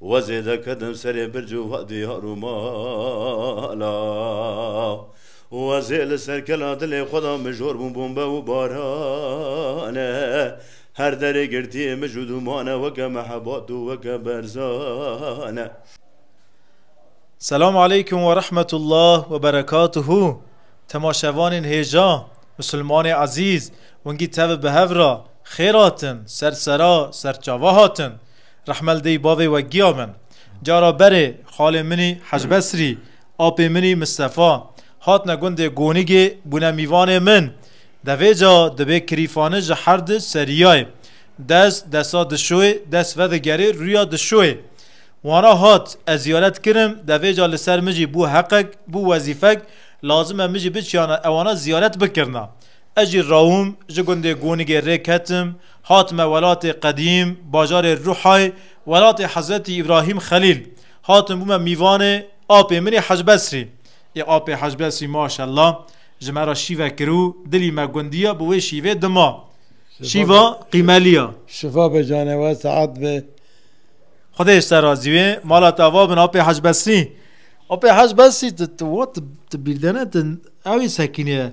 We zêde kedin serê birc û vadî har û mala. We zê li ser kela dilê xwe de mijor bûn bombe û barane. Her derê girtiyê mij û dûmane weke mehebat û weke berzane. Selam aleykum we rehmetullah we berekatuhu temaşevanên hêja, misilmanê ezîz, wingî tevî bi hev re xêr hatin, ser sera serçava hatin. Rehmel dêy bavê we giya min. Cara berê xalê minî Hecbesrî, apê minî Mistefa hatine gundê Gonigê bûne mîvanê min. Devê ca dibê kirîfane ji her di seriyayê. Dest desa dişoyê dest vedigerê rûya dişoyê. Wana hat ez ziyaret kirim devê ca li ser min jî bû heqek, bû wezîfek lazim e min jî biçiyana ewana ziyaret bikirina. Ez jî rawim, ji gundê Gonigê rê ketim, hatime welatê qedîm, bajarê Ruhay, welatê Hezretî Îbrahîm Xelîl. Hatim bûme mîvanê apê min ê Hecbesrî. Ê apê Hecbesrî maşella ji me re şîve kir û dilî me gundî ya bi wê şîvê dima. Şîva qîmelî ya. Şifa be cane we, seat be. Xwedê ji te razî be. Mala te ava bin apê Hecbesrî. Apê Hecbesrî ti ti wa ti bîrdene ti ewê sekînê ye.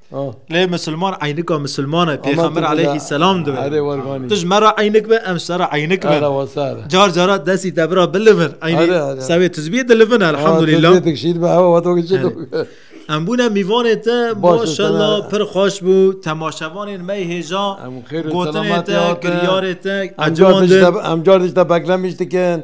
Lê misilman eynika misilmane pêxember aleyhî selam dibe. Tu ji me re eynik be em ser eynik be. Car cara desî te bira bilivin sevê tizbiyê dilivin elhamdulîlah. Em bûne mîvanê te maşela pir xweş bû temaşevanên me hêja gotinê te kiryarê te em car dij te beklemiş dikin.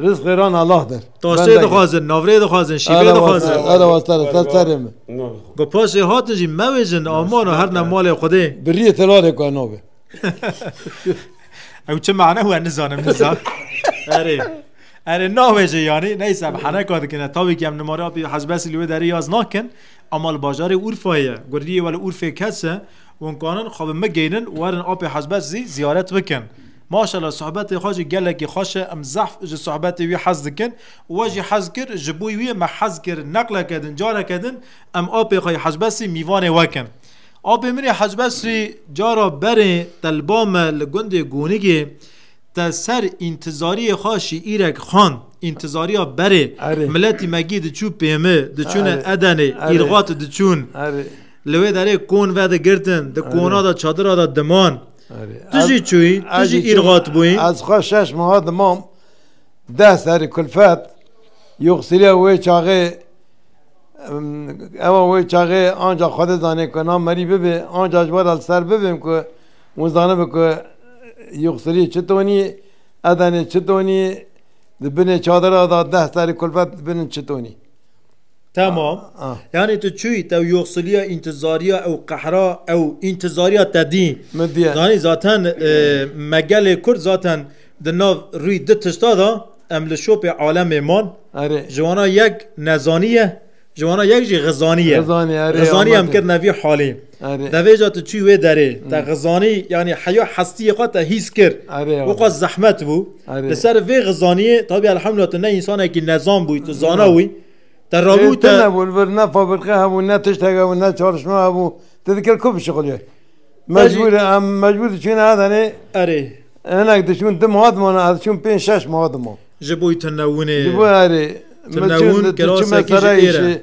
Riz xêran Allah der. Tasê dixwazin, navrê dixwazin, şîvê dixwazin. Era wastara ser serê min. Ku paşê hatin jî mewêjin amana her ne malê Xwedê. Biriyê telarê ku nabê. Ew çi mane we nizanim nizan. Erê. Erê navêje yanî neyse em heneka dikine tavî ki em nimara pî hezbesî li wê derê yaz nakin ema li bajarê Urfayê ye. Guriyê we li Urfê kese û kanin xwe bi me geynin werin apê hezbes zî ziyaret bikin. Maşallah sohbetê xwe jî gelekî xweş e em zehf ji sohbetê wî hez dikin û we jî hez kir ji bo wî me hez kir neqleke din careke din em apê xwe yê Hecbesrî mîvanê we kin. Apê min ê Hecbesrî cara berê te li ba me li gundê Gonigê te ser întizariyê xwe şîîrek xwend întizariya berê miletî me gî diçû pêmi diçûne Edenê îrxat diçûn li wê derê kon vedigirtin di kona de çadira de diman. Tu jî çûyî, tu jî îrxat bûyî. Ez xwe şeş meha dimam deh serî kulfet. Yoxsîliya wê çaxê ewa wê çaxê anca Xwedê zanî ku na merî bibê. Anca ji were li ser bibim ku hûn zanibe ku yoxsîlî çi tonî, edenê çi tonî, di binê çadira de deh serî kulfet binin çi tonî. Tamam. Yani tu çuy tev yoxsiliya intizariya ew qehra ew intizariya te dî. Min diye. Zanî zaten e, me gelê Kurd zaten di nav rûyî di tişta da em li şopê alemê man. Erê. Ji wana yek nezaniye, ji wana yek jî xizaniye. Xizaniye, erê, Xizaniye em amade. kirine vî halê. Devêja tu çûyî wê derê, te xizanî yanî heya hestiyê xwe te hîs kir. Bo xwe zehmet bû. Li ser vê xizaniyê tabî elhamdulillah tu ne însanekî nezan bûyî, tu zana wî. Te rabû te. Tune bû li vir ne fabrîka hebû, ne tiştek hebû, ne çalışma hebû. Tu dikir ku bişixulî. Mecbûr e em mecbûr diçûne Adenê. Erê. Hinek diçûn du meha dimane ez diçûm pênc şeş meha dimam. Ji bo tune wûnê. Ji bo erê. Tune wûn kirasekî jê êr e.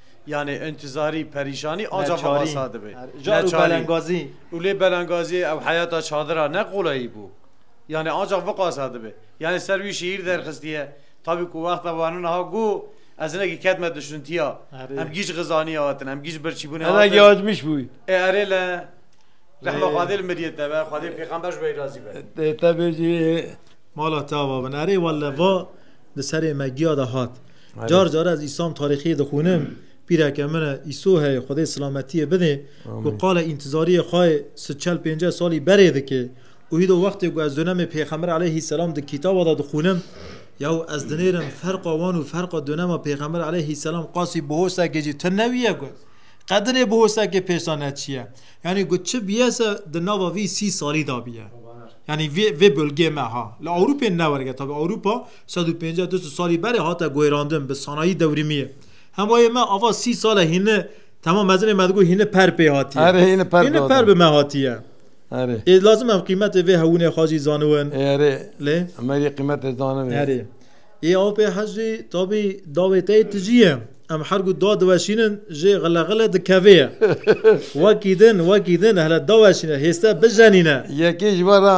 Yanê intizarî, perîşanî anca xebasa dibe. Car û belengazî. Û lê belengazîyê ew heyata çadira ne qolayî bû. Yanê anca viqasa dibe. Yanê ser wî şîîr derxistiye. Tabî ku wexta wana niha got, Ez hinekî ketime duşuntiya. Em gîc xizanîya we tune, em gîc birçîbûnê hatine. Hinekî acmîş bû. Ê erê le. Rehma Xwedê li miriyê te be, Xwedê pêxember ji we razî be. Dê te bêjî. Mala te ava bin. Erê wele va di serê me giya de hat. Car car ez îsam tarîxiyê dixwînim, pîreke min e îso heye Xwedê silametiyê bidê ku qala întizariyê xwe yê sil çel pênceh salî berê dike û hîdo wextê ku ez donemê pêxember eleyhî selam di kîtaba de dixwînim yaw ez dinêrim ferqa wan û ferqa donema pêxember eleyhî selam qasî bihosekê jî tune wiye ku qe dinê bihosekê pêşda neçiye yanî ku çi biyese di nava vî sî salî de biye yanî vê vê bulgê me ha li Ewrûpê newerge tabi Ewrûpa Sed û pênceh du sed salî berê hate guherandin bi sanayî dewrîmiyê. Hemayê me ava sî sal e hîni Temam mezinê me digo hîni per pê hatiye. Erê hîni per hîni per bi me hatiye. Erê. Ê lazim em qîmetê vê hewûnê xwe jî zaniwin. Erê. Lê me jî qîmetê zaniwin. Erê. Ê aw pê hecî tabî dawê te yê tijî ye. Em her ku da diweşînin jê xile xile dikevê ye. Wekî din wekî din hele daweşîne hêste bijenîne. Yekê ji we re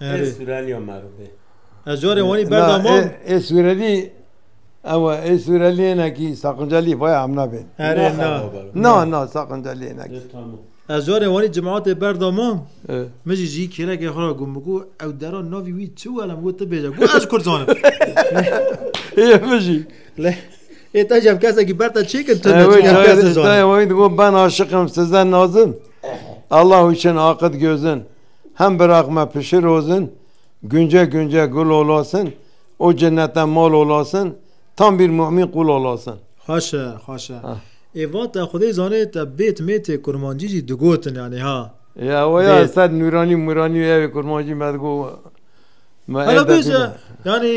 Ê Sureliya me re bê. Ez carê wanî berda mam. Ê Surelî ewe ê Sureliyênekî saqincelî baya em nabên. Erê na. Na na saqinceliyênekî. Ez carê wanî cimatê berda mam. Min jî jî kêrekê xwe ra got min ku ew dera navî wî çi were min got tu bêje. Got ez kurd zanim. Ê min jî. Ê te jî ev kesekî ber te çêkin tu ne çêkin ev kes dizane. Te ew got ben aşiqim size nazim. Allahu için akit gözin. Hem biraxme pişi rozin, gunce gunce gul olasin o cennete mal olasin, tam bir mu'min qul olasin. Xweşe, xweşe. Ê vate Xwedê zanê te bêt mêtê kurmancî jî digotin yanî ha. Ya we ya ez ser nûranî mûranî ewê kurmancî me digot me ê de bîne. Hela bêje yanî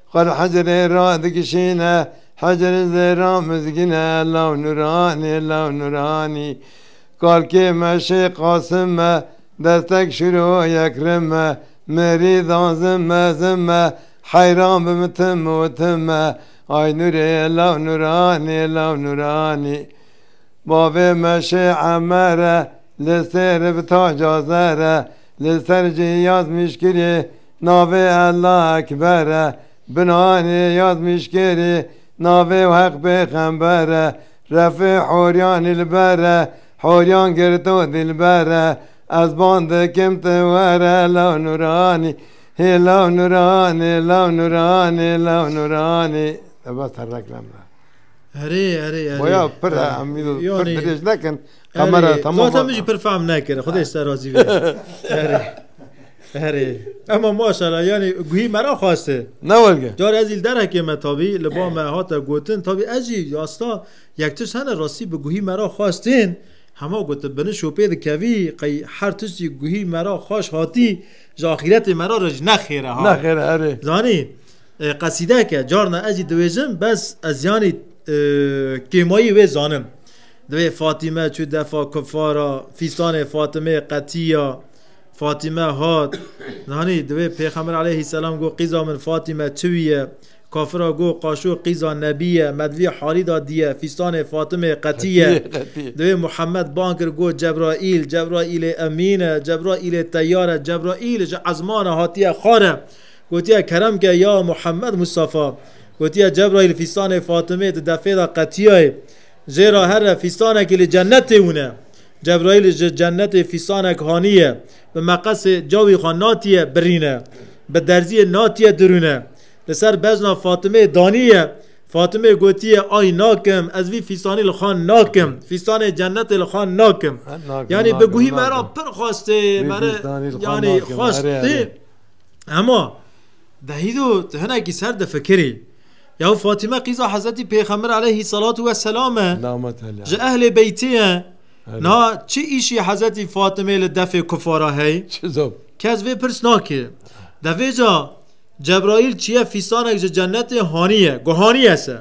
Xwe li hicrê ra dikişîne. Hicrê zêra mizgîne. Law Nûranî, law Nûranî. Kalkê me şê Qasim me. Destek şiro yek rim me. Mirîdan zim me, zim me. Heyran bi min tim o tim me. Ay Nûrê, law Nûranî, law Nûranî. Bavê me şê Emer e. Li sêr bi taca zer e. Li ser cihî yaz mîşkirê. Navê Ellah Ekber e. Binanê yazmîşkêrê navê û Heq Pêxember e. Refê horiyan li ber e. Horiyan girto dilber e. Ez bang dikim tu were law nûranî. Hê law nûranî, law nûranî, law nûranî. Bes te reklam da. Erê, erê, erê. Boya pir e, em îro pir dirêj nekin. Kamera tamam. Zaten min jî pir fehm nekir. Xwedê li ser razî be. Erê. Herê. Ema maşala yani guhî me ra xweste. Ne welge. Carê ez îl derhekê me tabî li ba me hate gotin tabî ez jî asta yek tişt hene rastî bi guhî me ra xwestên hema gotin bini şopê dikevî qey her tişt jî guhî me ra xweş hatî ji axîretê me ra re jî nexêr e ha. Nexêr e herê. Zanî qesîdeke carna ez jî diwêjim bes ez yanî kêmayî wê zanim. Divê Fatîme çû defa kufara fîstanê Fatimê qetîya Fatîme hat, Nanî, divê Pêxember aleyhî selam got, Qîza min Fatîme çi wî ye? Kafira got, Qaşo qîza nebî ye, me di vî halî de diye, fîstanê Fatimê qetî ye. Divê Muhammed bang kir got, Cebraîl, Cebraîlê emîn e, Cebraîlê teyar e, Cebraîl ji ezmana hatiye xwar e. Gotiye, Kerem ke ya Muhammed Mustafa. Gotiye, Cebraîl fîstanê Fatimê di defê de qetiyaye. Jê re here fîstanekî li cennetê hûn e. Cebraîl ji cennetê fîsanek haniye, bi meqesê cawî xwe natiye birîne, bi derziyê natiye dirûne. Li ser bezna Fatimeyê daniye. Fatimeyê gotiye ay nakim, ez vî fîsanî li xwe nakim, fîsanê cennetê li xwe nakim. Yanî bi guhî me re pir xwest ê, me re yanî xwest ê. Hema, Vehîdo tu hinekî ser difikirî. Ya Fatîme qîza Hezretî Pêxember eleyhî selatû we selam e, ji ehlê beytê ye. Niha çi îşî Hezretî Fatimeyê li defê kufara hey? Kes vê pirs nake. Devêca Cebraîl çiye fîstanek ji cenetê haniye, guhaniye se.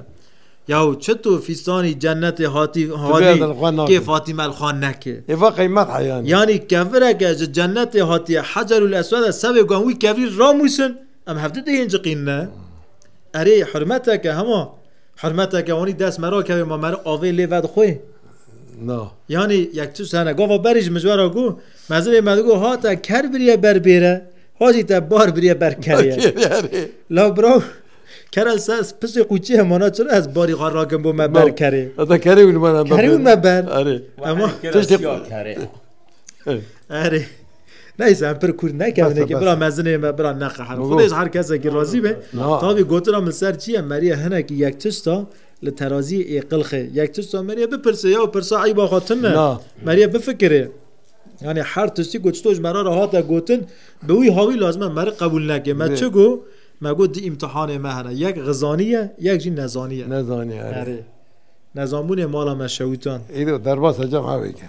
Yaw çito fîstanî cenetê hatî hanî kê Fatîme li xwe neke? Yanî kevireke ji cenetê hatiye Hecerûl Eswede se vê guhan wî kevirî ramûsin? Em hevdu dê yên ciqîn ne. Erê hurmeteke hema hurmeteke wanî dest me ra kevê ma me avê lê vedixwê. Na. Yanî yek tu sene gava berî ji mijwara ku mezivê me digo ha te ker biriye ber bêre ha jî te bar biriye ber keriye. La bro kera ser pisê qûçî hemana çira ez barî xwe rakim bo me ber kerê. Heta kerê wî me ber. Kerê wî me ber. Erê. Ema tiştê kerê. Erê. Neyse em pir kûr nekevin ki bira mezinê me bira neqehir. Xwedê ji her kesekî razî be. Tavî gotina min ser çi ye Meriye hinekî yek tişta li teraziyê ê qilxê. Yek tişta Meriye bipirse ya û pirsa eyba xwe tune. Meriye bifikirê. Yani her tiştî ku çi to ji me re re hate gotin bi wî hawî lazim e me re qebûl neke. Me çi got me got di îmtihanê me hene. Yek xizanî ye yek jî nezanî ye. Nezanî erê. Nezanbûnê mala me şewîtan. Îro derbas e cem hevêke.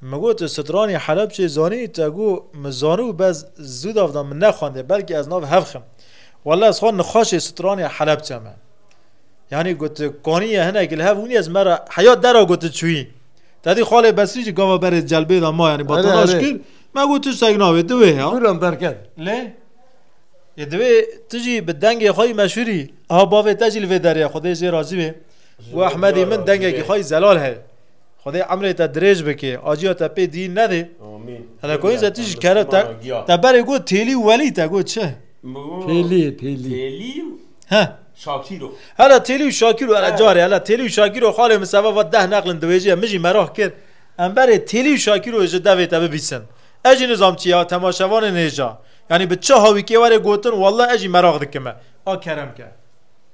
Min got tu stranî Helebçê zanî te got min zanû bez zû dav da min nexwendê belkî ez nav hev xim. Walla ez xwe nixweşê stranî Helebçe me. Yanî got tu kaniye hinekî li hev hûnî ez me re heya dera got tu çûyî. Tedî xalê Besrî jî gava berê celbê da ma yanî batalaş kir me got tu seg navê di wê ya. Guran derket. Lê yê di wê tu jî bi dengê xwe yî meşhûrî. Aha bavê te jî li vê derê ye xwedê jê razî bê. Got Ehmedî min dengekî xwe yî zelal heye. Xwedê emrê te dirêj bikê, aciya te pê dî nedê. Amîn. Hele koyê ze tij kere te te berê got têlî û welî te got çi? Têlî, têlî. Têlî û He. Şakîro. Hele têlî û şakîro hele carê hele têlî û şakîro xalê min seba va deh neqlin diwêjîye min jî merah kir. Em berê têlî û şakîroyê ji devê te bibîsin. Ez jî nizam çi ya temaşevanên hêja. Yanî bi çi hawîkê were gotin walla ez jî merah dikime. A kerem ke.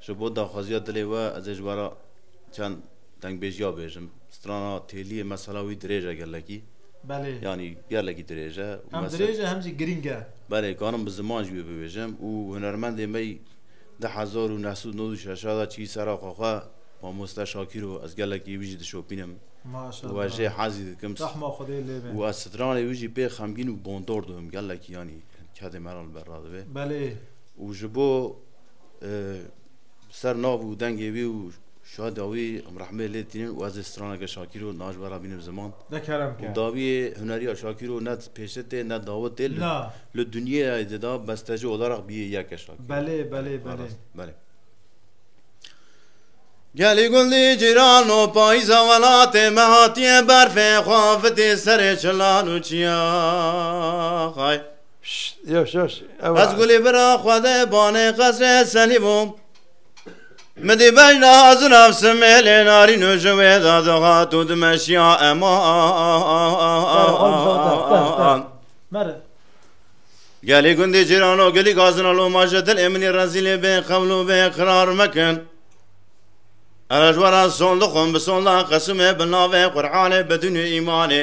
Ji bo daxwaziya dilê we ez ê ji bara çend dengbêjiya bêjim. Strana têliyê mesela wî dirêj e gelekî. Belê. Yanî gelekî dirêj e. Hem dirêj e hem jî girîng e. Belê karim bi ziman jî wê bibêjim û hunermendê me yî di hezar û neh sed û nod û şeş de çiyî ser axa xwe Mamoste Şakîr o. Ez gelekî wî jî dişopînim û ez jê hezî dikim. Maşallah. Rehma Xwedê lê be. Û ez stranê wî jî pê xemgîn û bondor dibim gelekî yanî kedê me re li ber radibê. Belê. Û ji bo bi ser nav û dengê wî û şadiya wî em rehmê lê tînin û ez ê straneke Şakîro di navçe we re bînim ziman. Û dawiyê huneriya Şakîro ne pêşe tê ne dawe tê li dunyeyê de da besteci olarak biyê yek e Şakîro. Belê belê belê. Belê. Gelî gul dî cîran û payîza welatê me hatiye berfê xwe afitî serê çilan û çiyax ay. Ez gulî bira xwe de banê qesrê senî bû Min dî bejna zina simêlê narîn û ji wê de dihat û dimeşiya eman Gelê gundê cîrano gelî gazina lo ma ji dilê min ê rezîlê bê xewl û bê qirar mekin Erejwera son dixwim bi sonda qesimê bi navê Qur'anê bedûnê îmanê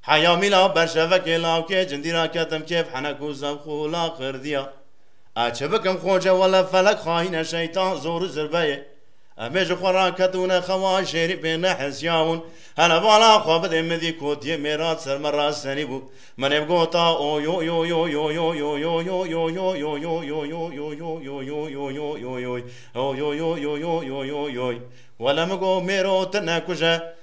Heya mîla berşevekê lawkê cindî ra ketim kêf henek û zevq û laqirdiya. Ez çi bikim xoce wele felek xayîn e şeytan zor û zirbe yê. Em ê ji xwe ra ketûne xewa jêrî pê nehesîya hûn hele vala xwe bidê midî kotiyê mêrat ser me ra serî bû min ê bigota oyoyoyo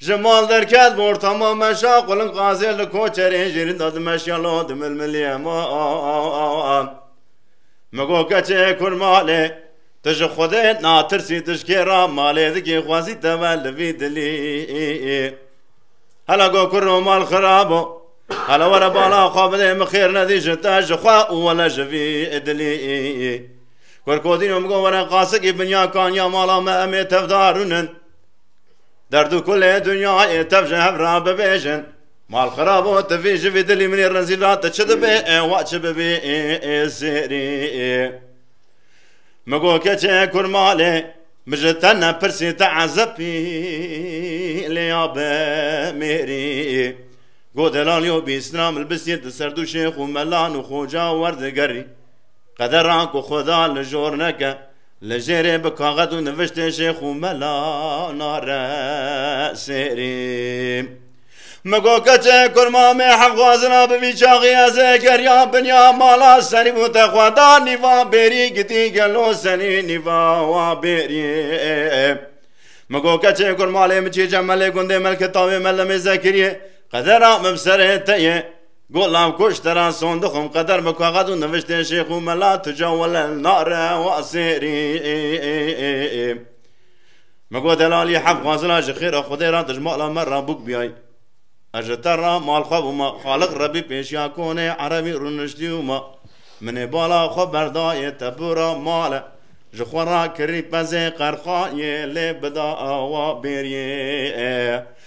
Ji mal derket bor tama meşa qulin qazê li koçerê jêrin da dimeşya lo dimilmiliye ma Min got keçê kur malê tu ji xwedê natirsî tu ji kê ra malê dikî xwezî te ve li vî dilî Hela got kur û mal xirab o Hela were bala xwe bidê min xêr nedî ji te ji xwe û wele ji vî dilî Kur kodîn û min got were qasikî binya kaniya mala me em ê tevdarûnin Derd û kulê dunyayê tev ji hev re bibêjin. Mal xirab û tivî ji vî dilî minî rizîl re tu çi dibê wa çi bibî zêrî. Min got keçê kur malê min ji te nepirsî te ezebî lê ya bi mêrî. Got delal yo bîsna min bisî di ser du şêx û melan û xoca û werdigerî. Qedera ku xuda li jor neke. Li jêrê bi kaxez û niviştê Şêx û Mela nare şêrî. Min got keçê kur mamê hevxwazina bi vî çaxî ez ê geriya binya mala serî û te xwe da nîva bêrî gidî gelo senî nîva wa bêrî. Min got keçê kur malê min çî cemelê gundê Melkitawê Melemê Zekiriyê qedera min bi serê te ye. Got lav kuş te ra son dixwim qeder bi kaxez û niviştên şêx û mela tu ca wele li nare wa sêrî Min got delalî heft xwazina ji xêra xwedê ra dij mala me ra bûk biyay Ez ji te ra mal xwe bûma Xaliq Rebî pêşiya konê erebî rûniştî û ma Min ê bala xwe berdayê te bûra male Ji xwe ra kirî pezê qerxayê lê bida wa bêriyê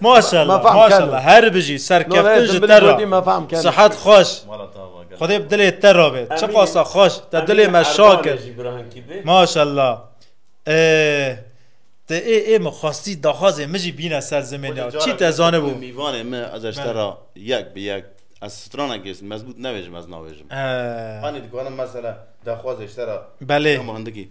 Maşallah maşallah her bijî serkeftin ji te re sihet xweş Xwedê bi dilê te re bê çi qasa xweş te dilê me şa kir Maşallah Te ê ê min xwestî daxwazê min jî bîne ser zimên ya çî te zanibû Mîvanê min ez ji te re yek bi yek ez stranek gêsim mezbût nevêjim ez navêjim Anî dikarim mesela daxwazê ji te re Belê hindikî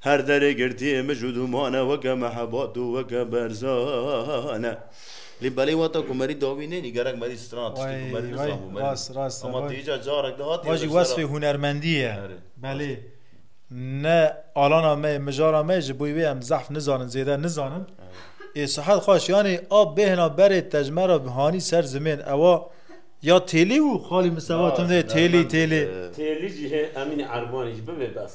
Her derê girtiyê mij û dûman e weke mehebat û weke berzan e. Lê belê wata ku merî dawî nênî gerek merî stran tiştê ku merî nizanbû merî rast rast ama tu îcar carek de hatiye vajî wesfê hunermendî ye belê ne alana me yê mijara me yê ji bo wê em zehf nizanin zêde nizanin ê sihet xweş yanî a bêhna berê tejmera hanî ser zimên ewa ya têlî û xalî min se va tim de têlî têlî. Têlî jî hê emînî erbanî jî bibê bes.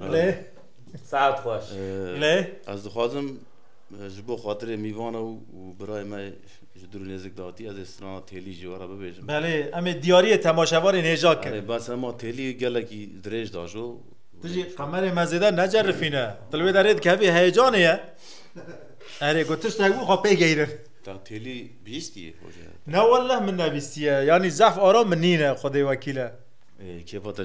Lê saet xweş. Lê ez dixwazim ji bo xatirê mîvana û birayê me ji dûr nêzik datî ez ê strana têlî ji wera bibêjim. Belê em ê diyariyê temaşevarên hêja kin. Erê bes hema têlî gelekî dirêj da jo. Tu jî qemerê me zêde necerifîne. Tu li wê derê dikevî heyecanê ye. Erê ku tiştek bû xwe pê geyrin. Te têlî bihîstiye hoca? Ne wellah min nebîstiye. Yanî zehf ara min nîne xwedê wekîle. Kêfa te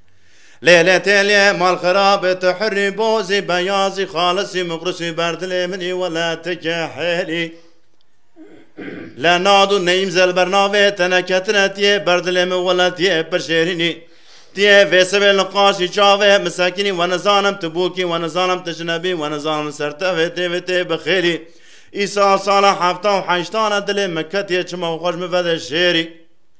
Lêlê têlê malxirabê tu hurrî bozî beyazî xalisî muxlisî ber dilê min î welatike hêlî Lenad û neyîm zelbernavê teneketine tiyê ber dilê min welatiyê pir şêrînî Tiyê vêsivê li qaşî çavê min sekinî we nizanim tu bûkî we nizanim tu jinebî we nizanim ser tevê têvê tê bi xêrî Îsal sala hefta û heştan e dilê min ketiye çima xweş min vedê şêrî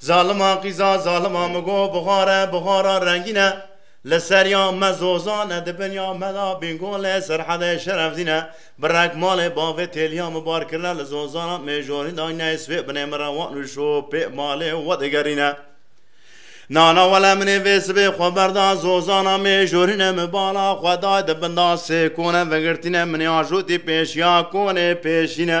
Zalima qîza zalima min got bixare bixara rengîn e li ser ya me zozan e di bin ya me de bîngolê serhedê şerefdîn e bi rek malê bavê têliya min bar kirine li zozana mêjorîn de neyê swê binê min re wan û şo pê malê we digerîne nana wele minê vê sibê xwe berda zozana mêjorîne min bala xwe day di binda sê kone vegirtîne minê ajotî pêşiya konê pêşîne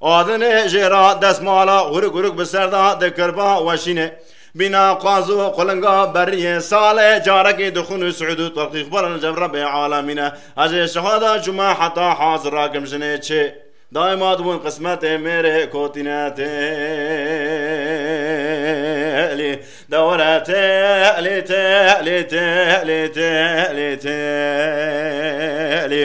Adinê jê ra destmala gurik gurik bi ser da dikir ba weşînê. Bîna qaz û qulinga beriyê salê carekî dixwin û Siûd û Tirkî xwe li nîşan Rebê Alemîne hejê şehada çûme heta haz rakim jinê çê daîma dibûn qismetê mêrê kotîne têlî dewre têlî têlî têlî têlî têlî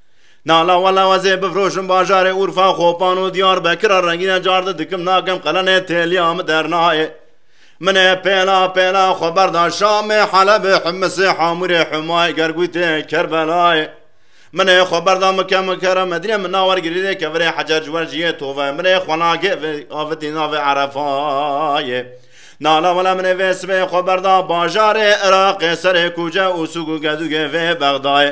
Nala wala wezê bifroşim bajarê Urfa, Xopan û Diyarbekir a rengîne carde dikim nakim qelenê têliya min dernayê. Min ê pêla pêla xwe berda Şamê, Helebê, Himisê, Hamûrê, Humayê, Gergûtê, Kerbelayê. Min ê xwe berda Mike, Mukere, Medîne min na wergirî rê kevirê Hecer ji wer jiyê tove min ê xwe nagê vê avitî navê Erefayê. Nala wala min ê vê sibê xwe berda bajarê Iraqê serê kûce û sûg û gedûgê vê Bexdayê.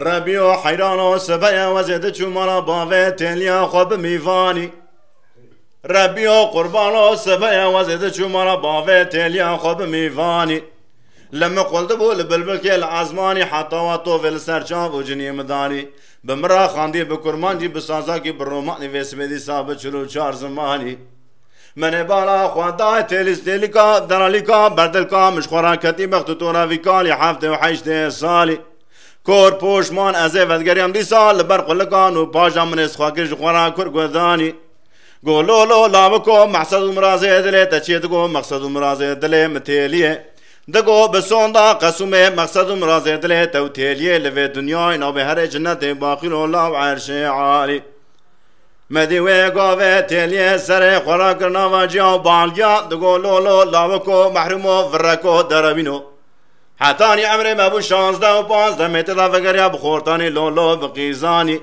Rebiyo heyrano sibeye wezê diçû mala bavê têliya xwe bi mîvanî. Rebiyo qurbano sibeye wezê diçû mala bavê têliya xwe bi mîvanî. Li min qul dibû li bilbilkê li ezmanî heta wa tovê li ser çav û cinî min danî. Bi min re xandî bi kurmancî, bi sazakî, bi romanî vê sibê dîsa bi çil û çar zimanî. Menê bala xwe dayê têlîs têlîka, deralîka, berdilka, min ji xwe re ketî bext û tora vî kalî heftê û heştê salî. Kor, poşman, ez ê vedigeriyam dîsa li ber qulikan û pajan min ê sixwe kir ji xwe re kur guhdanî. Got, Lo, lo, lawiko, mexsed û mirazê dilê te çi ye? Digot, Mexsed û mirazê dilê min têlî ye. Digot, Bi sonda qesûmê, mexsed û mirazê dilê te û têlîyê li vê dinyayê navê herê cinetê baqîr û law erşê alî. Me dî wê gavê têliyê serê xwe re kir nava ciya û balgiya, digot lolo, lawiko, mehrûmo, vireko, derewîno. Hetanî emrê me bû şazdeh û panc demê tê de vegeriya bi xortanî lolo, bi qîzanî.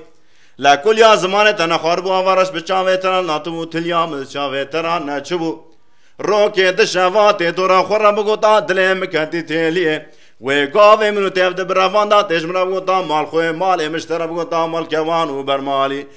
La kul ya zimanê te ne xwaribû ava reş bi çavê te re natibû, tiliya min di çavê te re neçibû. Rokê di şeva têtora xwe re bigota dilê min ketî têliyê. Wê gavê min û têv di bi revan de têj min re bigota malxwê, malê min ji te re bigota malkewan û bermalî.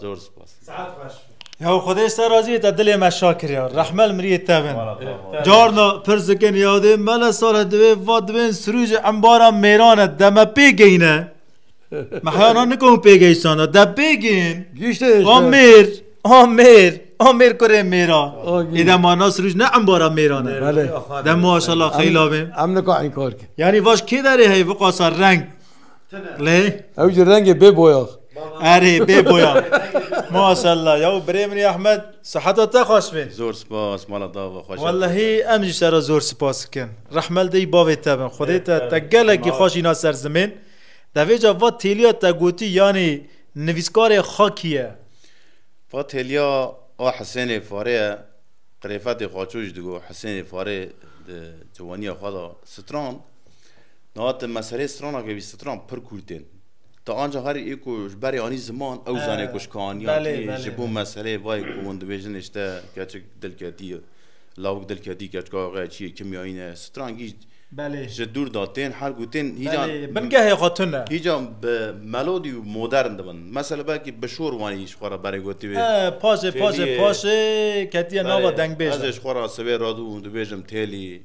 Zor spas. Saat baş. Ya Xwedê ser razî te dilê me şa kiriya. Rehmel miriyê te bin. Carna pir zikin yadê mele sale divê va divên sirûcê embara mêrane deme pê geyne. Me heyana nikom pê geysana. De pê geyin. Gişte A mêr. A mêr. A mêr kurê mêra. Êde mana sirûc ne embara mêrane. Belê. De maşallah xeyla bê. Em nika inkar kir. Yanî vaş kê derê heye viqasa reng. Lê? Ew jî rengê bê boyax. Erê bê boyax. Maşallah ya birê min Ahmed siheta te xweş be. Zor spas mala te ve xweş. Wellehî em jî sera zor spas dikin. Rehmel dey bavê te bin. Xwedê te te gelekî xweş îna ser zimên. Devê ca va têliya te gotî yanî nivîskarê xwe kî ye? Va têliya a Hisênê Farê ye. Qirêfetê Xaço jî digot Hisênê Farê di ciwaniya xwe de strand. Niha ti meseleyê strana ke bî stran pir kûrt ên. Ti anca herî ê ku ji berê anî ziman ew zanê ku ji kaniya tê ji bo meseleyê vayê ku hûn dibêjin îşte keçik dilketî ye. Lawik dilketî keçika xwe ye çiyê kimyayî ne ye. Stran gîj ji dûr de tên her ku tên hîca bingehê xwe tune. Hîca bi melodî û modern dibin. Mesele belkî bi şor wanî ji xwe re berê gotî wê. Paşê paşê paşê ketiye nava dengbêjan. Ez ê ji xwe re sibê radû hûn dibêjim têlî.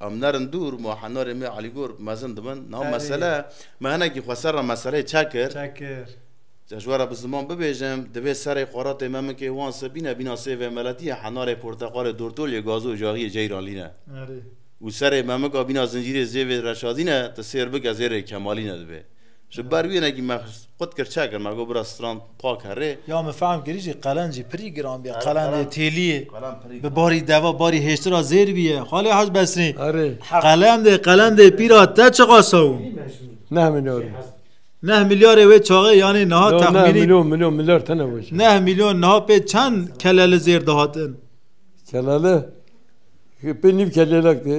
Em nerin dûr, ma henerê me Elîgor mezin dibin. Niha mesele, me hinekî xwe ser re meseleyê çek kir. Çek kir. Ji we re bi ziman bibêjim, divê serê xwaratê me minkê wan se bîne bîna sê vêmeletî ye, henerê porteqalê dortoliyê gazo jaxiyê ceyranlî ne. Erê. Û serê me mika bîna zincîrê zêvê reşadî ne, ti sêr bike zêrê kemalî ne divê. Ji ber wî ne kî me qut kir çek kir me got bira stran pak e rê. Ya min fehm kirî jî qelen jî pirî giran bîye, qelen dê têlîyê bi barî deva barî hêştir a zêr bîye. Xalê Haj Besrî qelen dê qelen dê pîra te çiqa sewin? Neh milyar in. Neh milyarê wê çaxê yanî niha texmînî. Neh milyon milyon milyar tene weş. Neh milyon niha pê çend keleli zêr dihatin? Keleli? Pê nîv kelelek dê.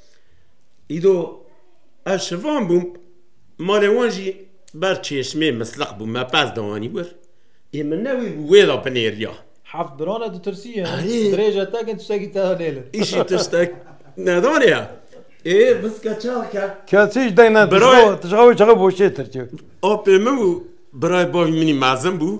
Îdo ez şivan bûm, malê wan jî ber çêşmê misliq bû, me pez da anî wir. Ê min ne wîr bû wê da binêriya. Heft biran e tu tirsî ye. Dirêje tekin tiştekî te da lê li. Îşî tiştek nedane ya. Ê viska çax ke. Kesî ji deng ne dişka tişka wê çaxê boşê tirkê. Apê min û birayê bavê min î mezin bû.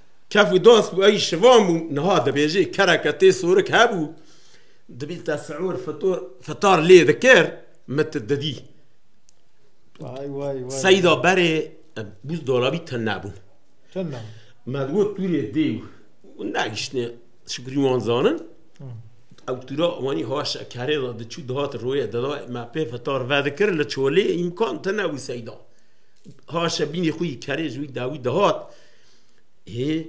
Kef û doz ku ey şivan bû, niha dibêjê kereke tê sorik hebû, dibî te siûr, fitur, fitar lê dikir, min tu didî. Vay vay vay. Seyda berê bûz dolabî te nebûn. Te nebûn. Me digot tûrê dê û nagiştine şikurî wan zanin. Ew tûra wanî ha şekerê da diçû dihat royê dida me pê fitar vedikir li çolê îmkan tine wî seyda. Ha şebînê xwî kerê ji wî dawî dihat. Hê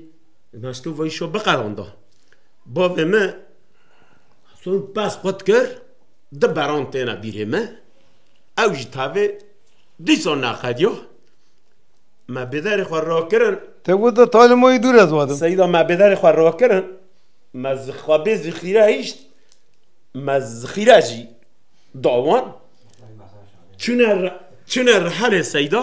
naşto vay şo biqeranda. Bavê me son pes xwe dikir di beran têne bîrê me ew ji tavê dîsa nexediya me bêderê xwe rakirin Te got da talê ma yê dûr ez wadim. Seyda me bêderê xwe rakirin me xwe bê zixîre hişt me zixîre jî dawan çûne çûne rihelê seyda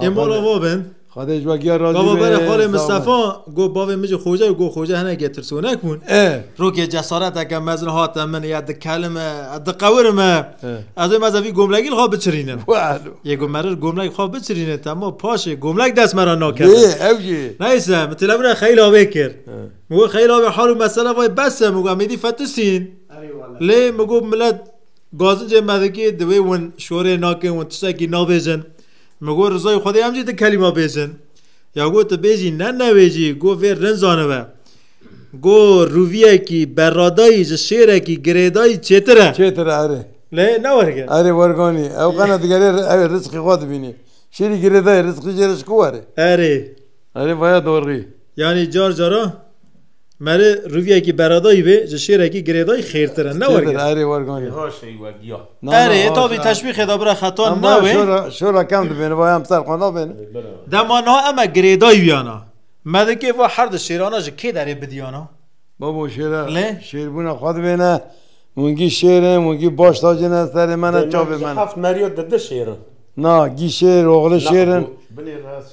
Ê mala va ben. Xwedê ji we giya razî be. Bava bere xalê Mistefa got bavê min jî xoca û got xoca hinekê tirsonek bûn. Rokê cesareteke mezin hate min ya dikelim e, diqewirim e. Ez ê meze vî gomlegî li xwe biçirînim. Yê got merir gomlek xwe biçirîne tema paşê gomlek dest me re nakeve. Yê ew jî. Neyse min telefona xeyla wê kir. Min got xeyla wê hal û mesele vayê bes e min got em êdî fetisîn. Lê min got milet gazincê me dikê divê win şorê nakin win tiştekî nabêjin. Min got rizayê Xwedê em jî di kelîma bêjin. Ya got tu bêjî ne newêjî, got vê rind zanibe. Got rûviyekî berradayî ji şêrekî girêdayî çêtir e. Çêtir e erê. Lê ne werge. Erê werganî. Ew qena digerê ew rizqê xwe dibînî. Şêrî girêdayî rizqî jê re ji ku were? Erê. Erê vaya dorrî. Yanî car cara. Merê rûvyekî beredayî vê ji şêrekî girêdayî xêrtir e. Ne Tê werger. erê werganî. Hoş ey wediya. Na, na, Erê, hoş, tavî hoş. teşwîxê da bira xetan Em bayan newê. şora, şora kem dibêne, bayan bi ser xwe nabêne. Dema niha em e girêdayî wiyana. Me dikê va her di şêrana ji kê derê bidiyana? Babo şêre, Lê? şêrbûna xwe dibêne, wingî şêrin, wingî baş dacêne serê me ne, çavê me ne. Heft meriya dide şêrin. Na, gî şêr, oxli şêrin. Binê rest.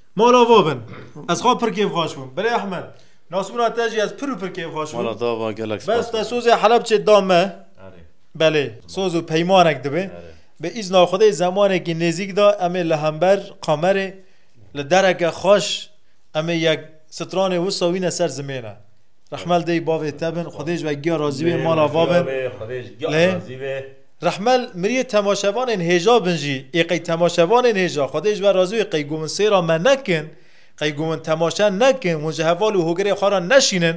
Mala vo bin. Ez xwe pir kêfxweş bûm. Birê Ehmed, nasmûna te jî ez pir û pir kêfxweş bûm. Mala te ava gelek spas. Bes te sozê Helebçê da me. Belê, soz û peymanek dibe. Bi îzna Xwedê zemanekî nêzîk de em ê li hember kamerê li dereke xweş em ê yek stranê wisa wîne ser zimêne. Rehmet dey bavê te bin. Xwedê ji we giya razî be. Mala va bin. Lê. Rehmel miriyê temaşevanên hêja bin jî ê qey temaşevanên hêja Xwedê ji we razî wê qey ku hûn sêra me nekin, qey ku hûn temaşe nekin, hûn ji heval û hogirê xwe re neşînin,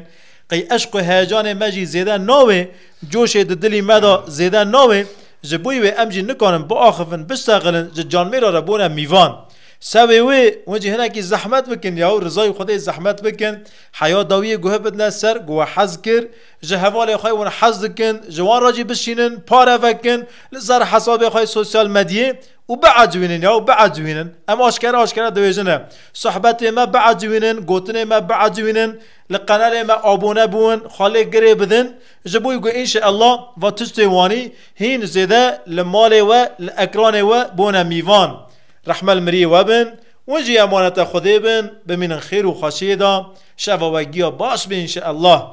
qey eşq û heyecanê me jî zêde nawê, coşê di dilî me de zêde nawê, ji boî wê em jî nikarin biaxivin, biştexilin, ji canmêra re bûne mîvan. Sewê wê, hûn jî hinekî zehmet bikin ya û rizayê Xwedê zehmet bikin, heya dawiyê guhe bidine ser ku we hez kir, ji hevalên xwe hûn hez dikin ji wan re jî bişînin, pare vekin li ser hesabê xwe yê sosyal medyê û biecwînin ya û biecwînin. Em aşkere aşkere dibêjin e. Sohbetên me biecwînin, gotinên me biecwînin, li qenelê me abone bûn, xwe lê girê bidin ji bo ku înşeellah va tiştên wanî hîn zêde li malê we, li ekranê we bone mîvan. Rehme li miriyê we bin, hûn jî emanete Xwedê bin, bimînin xêr û xweşiyê de, şeva we giya baş be înşeellah.